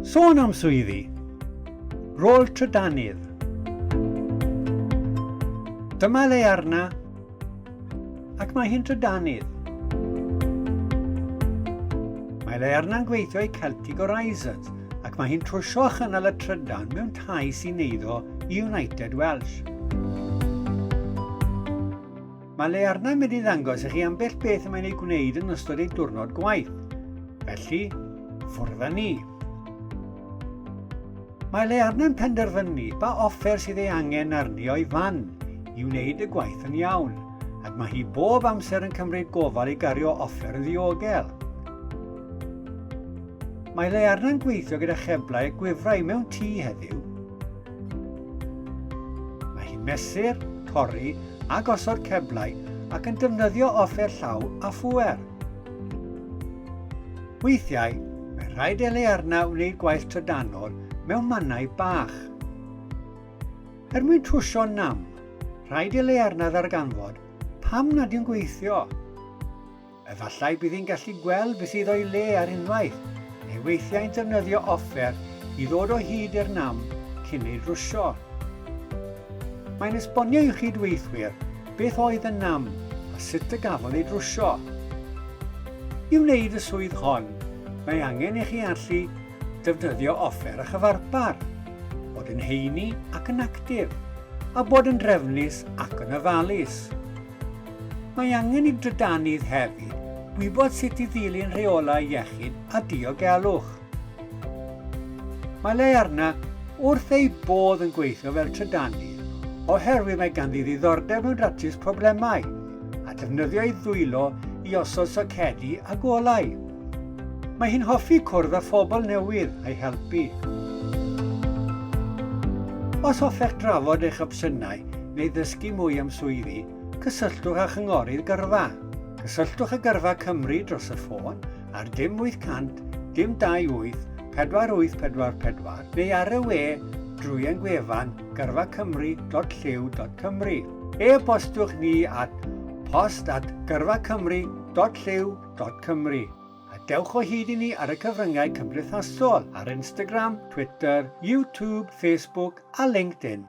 Sôn am swyddi. Rôl trydanydd. Dyma le arna, ac mae hi'n trydanydd. Mae le arna'n gweithio i Celtic Horizons, ac mae hi'n trwsio a chynnal y trydan mewn tai sy'n eiddo i United Welsh. Mae Learna yn mynd i ddangos i chi ambell beth y mae'n ei gwneud yn ystod ei diwrnod gwaith. Felly, ffwrdd â ni. Mae Learna yn penderfynu ba offer sydd ei angen arni o'i fan i wneud y gwaith yn iawn, ac mae hi bob amser yn cymryd gofal i gario offer yn ddiogel. Mae Learna'n gweithio gyda cheblau a gwifrau mewn tŷ heddiw. Mae hi'n mesur, pori a gosod ceblau ac yn defnyddio offer llaw a phŵer. Weithiau, mae rhaid Elearna wneud gwaith trydanol mewn mannau bach. Er mwyn trwsio nam, rhaid Elearna ddarganfod pam nad yw'n gweithio. Efallai bydd hi'n gallu gweld beth sydd o'i le ar unwaith, neu weithiau'n defnyddio offer i ddod o hyd i'r nam cyn ei drwsio. Mae'n esbonio i'w chyd-weithwyr beth oedd y nam a sut y gafodd ei drwsio. I wneud y swydd hon, mae angen i chi allu defnyddio offer a chyfarpar, bod yn heini ac yn actif, a bod yn drefnus ac yn ofalus. Mae angen i drydannydd hefyd wybod sut i ddilyn rheolau iechyd a diogelwch. Mae le arna wrth eu bodd yn gweithio fel trydannydd oherwydd mae ganddi ddiddordeb mewn datrys problemau a defnyddio ei ddwylo i osod socedi a golau. Mae hi'n hoffi cwrdd â phobl newydd a'i helpu. Os hoffech drafod eich opsiynau neu ddysgu mwy am swyddi, cysylltwch â Chynghorydd Gyrfa. Cysylltwch â Gyrfa Cymru dros y ffôn ar dim 800 dim 28 4844 neu ar y we drwy ein gwefan gyrfacymru.llyw.cymru. E-bostiwch ni at post at gyrfacymru.llyw.cymru. Cymru. A dewch o hyd i ni ar y cyfryngau cymdeithasol ar Instagram, Twitter, YouTube, Facebook a LinkedIn.